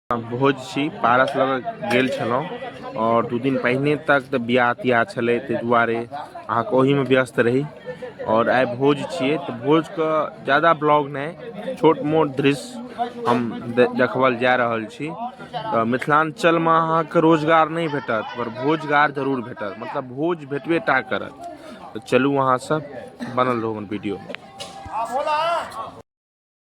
भोज छी पारस लऽ कऽ गेल छलहुँ आओर दू दिन पहिने तक तऽ बियाह तियाह छलै ताहि दुआरे अहाँके ओहिमे व्यस्त रही आओर आइ भोज छियै तऽ भोजके ज्यादा ब्लॉग नहि छोट मोट दृश्य हम दे- देखबल जा रहल छी तऽ मिथिलाञ्चलमे अहाँके रोजगार नहि भेटत पर भोजगार जरूर भेटत मतलब भोज भेटबे टा करत तऽ चलू अहाँसभ बनल रहू हमर वीडियो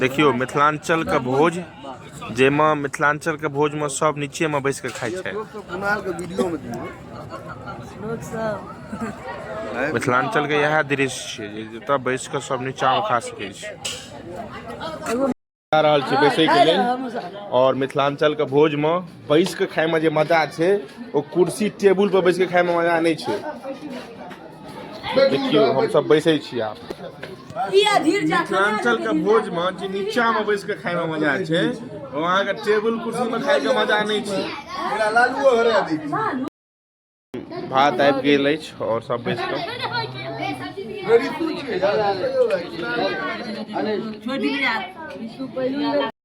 देखियौ मिथिलाञ्चल के भोज जाहिमे मिथिलाञ्चल के भोज मे सब नीचे मे बैस के खाइ छै मिथिलाञ्चल के इएह दृश्य छै जे जतऽ बैस के सब नीचा मे खा सकै छै जा रहल छी बैसै के लेल और मिथिलाञ्चल के भोज मे बैस के खाय मे जे मजा छै ओ कुर्सी टेबुल पर बैस के खाय मे मजा नहि छै देखियौ हमसभ बैसै छी आब मिथिलाञ्चल के भोज मे जे नीचा मे बैस के खाय मे मजा छै ओ अहाँके टेबुल कुर्सी मे खाय के मजा नहि छै भात आबि गेल अछि आओर सब बैस कऽ छोड़ दिलिया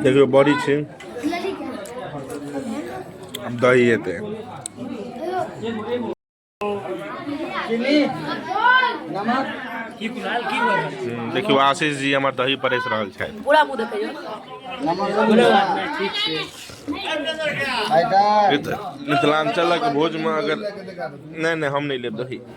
देखियौ बड़ी छै दही हेतै देखियौ आशीष जी हमर दही परेस रहल छथि पूरा मुँह देखियौ मिथिलाञ्चलक भोजमे अगर नहि नहि हम नहि लेब दही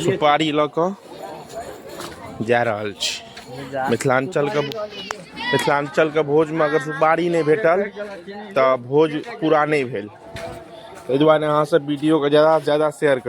सुपारी लऽ कऽ जा रहल छी मिथिलाञ्चलके मिथिलाञ्चलके भोजमे अगर सुपारी नहि भेटल तऽ भोज पूरा नहि भेल ताहि दुआरे अहाँसभ वीडियोके ज्यादासँ ज्यादा शेयर करू